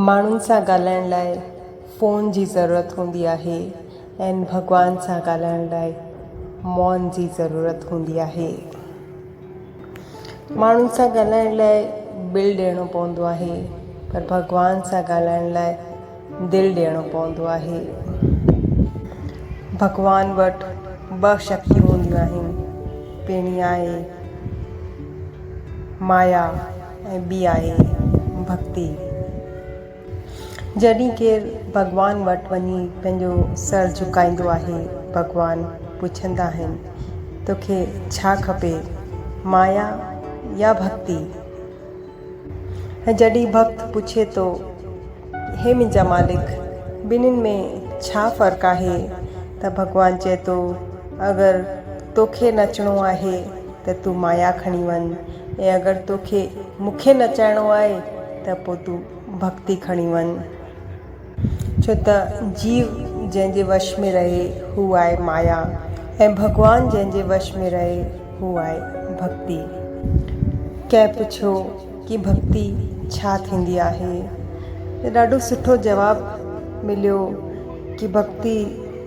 ماڻهن سان ڳالهائڻ لاء فون جي ضرورت هوندي آهي ۽ ڀڳوان سان ڳالهائڻ لاء مون جي ضرورت هوندي آهي. ماڻهن سان ڳالهائڻ لاء بل ڏيڻو پوندو آهي پر ڀڳوان سان ڳالهائڻ لاء دل ڏيڻو پوندو آهي. ڀڳوان وٽ ٻه شڪتيون هونديون آهن پهرين آهي مايا. ۽ ٻي آهي ڀڳتي. جڏهن ڪير ڀڳوان وٽ وڃي پنهنجو سر جهڪائيندو آهي، ڀڳوان پڇندا آهن، توکي ڇا کپي، مايا يا ڀڳتي؟ ۽ جڏهن ڀڳت پڇي ٿو، هي منهنجا مالڪ، ٻنهين ۾ ڇا فرق آهي؟ ته ڀڳوان چئي ٿو، اگر توکي نچڻو آهي ته تون مايا کڻي وڃ ۽ اگر تو کي مون کي نچائڻو آهي ته پوء تون ڀڳتي کڻي وڃ. ڇو ته جيو جنهن جي وش ۾ رهي هو آهي مايا ۽ ڀڳوان جنهن جي وش ۾ رهي هو آهي ڀڳتي. ڪنهن پڇيو ڪي ڀڳتي ڇا ٿيندي آهي ته ڏاڍو سٺو جواب مليو ڪي ڀڳتي.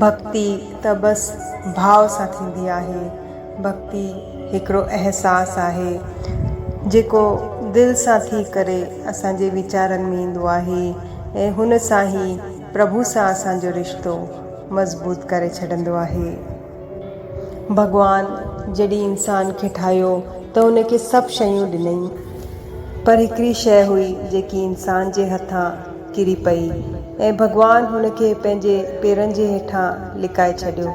ڀڳتي ته بس ڀاء سان ٿيندي آهي. ڀڳتي هڪڙو احساس آهي، جيڪو دل سان ٿي ڪري اسان جي ويچارن ۾ ايندو آهي ۽ هن سان ئي پرڀو سان اسان جو رشتو مضبوط ڪري ڇڏندو آهي. ڀڳوان جڏهن انسان کي ٺاهيو ته ان کي سڀ شيون ڏنائين، پر هڪڙي شيء هئي جيڪي انسان جي هٿان ڪري پئي ۽ ڀڳوان هن کي پنهنجي پيرن جي هيٺان لڪائي ڇڏيو.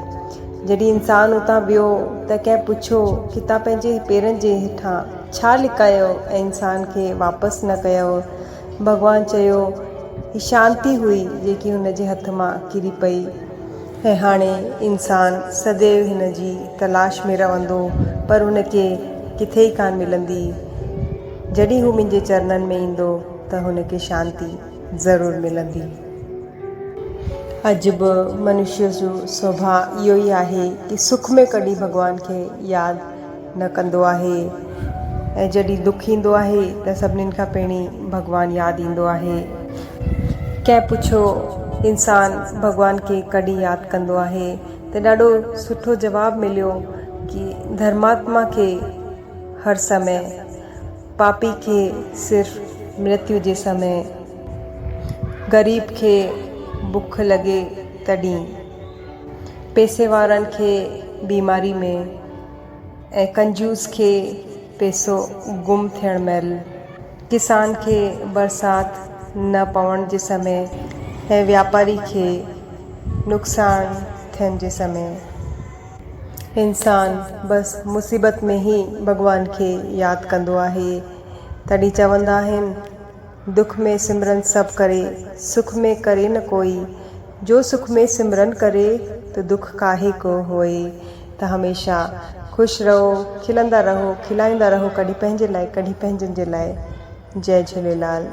جڏهن انسان اتان ويو ته ڪنهن پڇيو ڪي تان پنهنجي پيرن جي هيٺان ڇا لڪايو ۽ انسان کي واپس نه ڪيئو؟ ڀڳوان چيو هي شانتي هئي جيڪي هن جي هٿ مان ڪري پئي. ۽ هاڻي انسان سديو هن جي تلاش ۾ رهندو پر هن کي ڪٿي ئي ڪانه ملندي. جڏهن هو منهنجي چرنن ۾ ايندو. ته هن کي شانتي ضرور ملندي. اڄ به منشيء جو سوڀاء اهو ئي آهي ته سک ۾ ڪڏهن ڀڳوان کي ياد نه ڪندو آهي ۽ جڏهن دک ايندو آهي ته سڀني کان پهرين ڀڳوان ياد ايندو آهي. ڪنهن پڇيو، انسان ڀڳوان کي ڪڏهن ياد ڪندو آهي؟ ته ڏاڍو سٺو جواب مليو ته ڌرماتما کي هر سمي پاپي کي صرف مرتيو جي سمي غريب کي بک لڳي تڏهين پيسي وارن کي بيماري ۾ ۽ ڪنجوس کي پيسو گم ٿيڻ مهل ڪسان کي برسات نه پوڻ جي سمي ۽ واپاري کي نقصان ٿين جي سمي. انسان بس مصيبت ۾ ئي ڀڳوان کي ياد ڪندو آهي. تڏهن چوندا آهن، دک ۾ سمرن سڀ ڪري، سک ۾ ڪري نه ڪوئي. جو سک ۾ سمرن ڪري تو دک ڪاهي ڪو هوئي. ته هميشه خوش رهو، کلندا رهو، کلائيندا رهو ڪڏهن پنهنجي لاء ڪڏهن پنهنجن جي لاء. جئي جهوليلال.